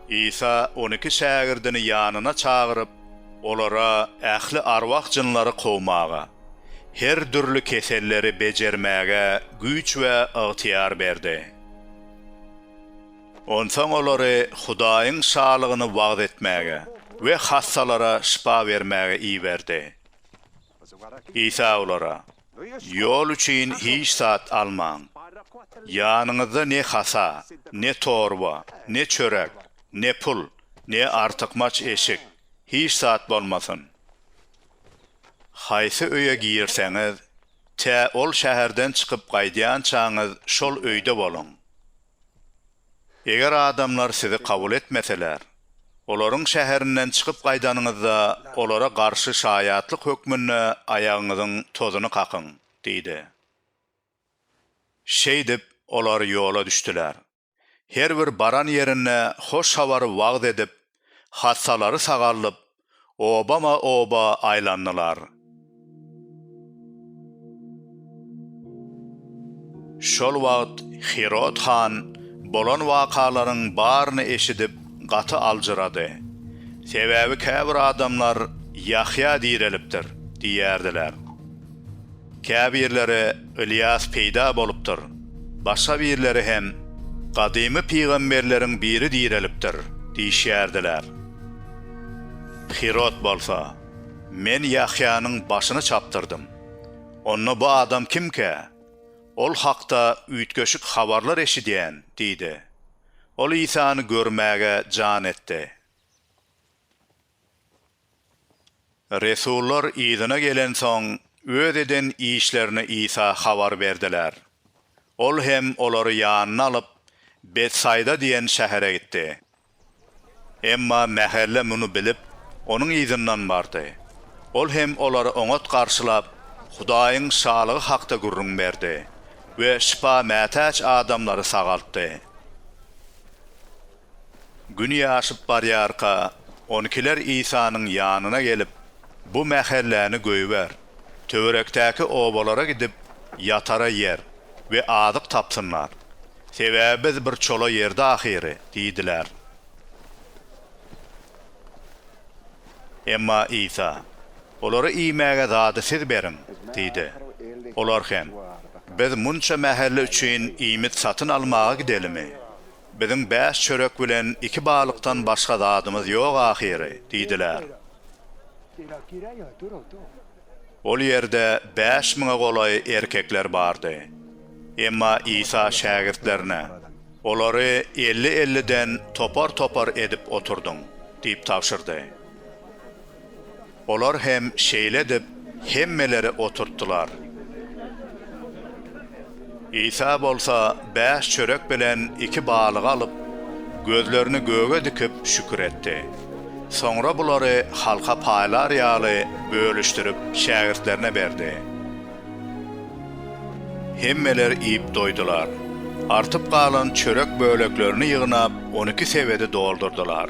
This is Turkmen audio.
Isa on iki şägirdini ýanyna çagyryp, olara ähli arwah-jynlary kowmaga, her dürli keselleri bejermäge güýç we ygtyýar berdi. Onsoň olary Hudaýyň Şalygyny wagyz etmäge we hassalara şypa bermäge iberdi. Isa olara, Ýol üçin hiç zat almaň. Ýanyňyzda ne hasa, ne torba, ne çörek, ne pul, ne artykmaç eşik, hiç zat bolmasyn. Haýsy öýe girseňiz, tä ol şäherden çykyp gaýdýançaňyz şol öýde boluň. Eger adamlar sizi kabul etmeseler, olaryň şäherinden çykyp gaýdanyňyzda, olara garşy şaýatlyk hökmünde aýagyňyzyň tozuny kakyň diýdi. Şeýdip, olar ýola düşdüler. Her bir baran ýerinde hoş habary wagyz edip, hassalary sagaldyp, obama-oba aýlandylar. Şol wagt Hirod han bolan wakalaryň baryny eşidip, gaty aljyrady. Sebäbi käbir adamlar, Ýahýa direlipdir! diýýärdiler. Käbirleri Ylýas peýda bolupdyr, başga birleri hem gadymy pygamberleriň biri direlipdir diýişýärdiler. Hirod bolsa, Men Ýahýanyň başyny çapdyrdym. Onda bu adam kimkä? Ol hakda üýtgeşik habarlar eşidýän diýdi. Ol Isany görmäge jan etdi. Resullar yzyna gelensoň, öz eden işlerini Isa habar berdiler. Ol hem olary ýanyna alyp, Betsaýda diýen şähere gitdi. Emma mähelle muny bilip, onuň yzyndan bardy. Ol hem olary oňat garşylap, Hudaýyň Şalygy hakda gürrüň berdi we şypa mätäç adamlary sagaltdy. Gün ýaşyp barýarka, on ikiler Isanyň ýanyna gelip, Bu mähelläni goýber. Töwerekdäki obalara gidip, ýatara ýer we azyk tapsynlar. Sebäbi biz bir çola ýerde ahyry diýdiler. Emma Isa, Olara iýmäge zady siz beriň diýdi. Olar hem, Biz munça mähelle üçin iýmit satyn almaga gidelimi? Biziň bäş çörek bilen iki balykdan başga zadymyz ýok ahyry, diýdiler. Ol ýerde bäş müňe golaý erkekler bardy. Emma Isa şägirtlerine, Olary elli-elliden topar-topar edip oturdyň, diýip tabşyrdy. Olar hem şeýle edip, hemmeleri oturtdylar. Isa bolsa bäş çörek bilen iki balygy alyp, gözlerini göge dikip, şükür etdi. Soňra bulary halka paýlar ýaly bölüşdirip, şägirtlerine berdi. Hemmeler iýip doýdular. Artyp galan çörek böleklerini ýygnap, on iki sebedi doldurdylar.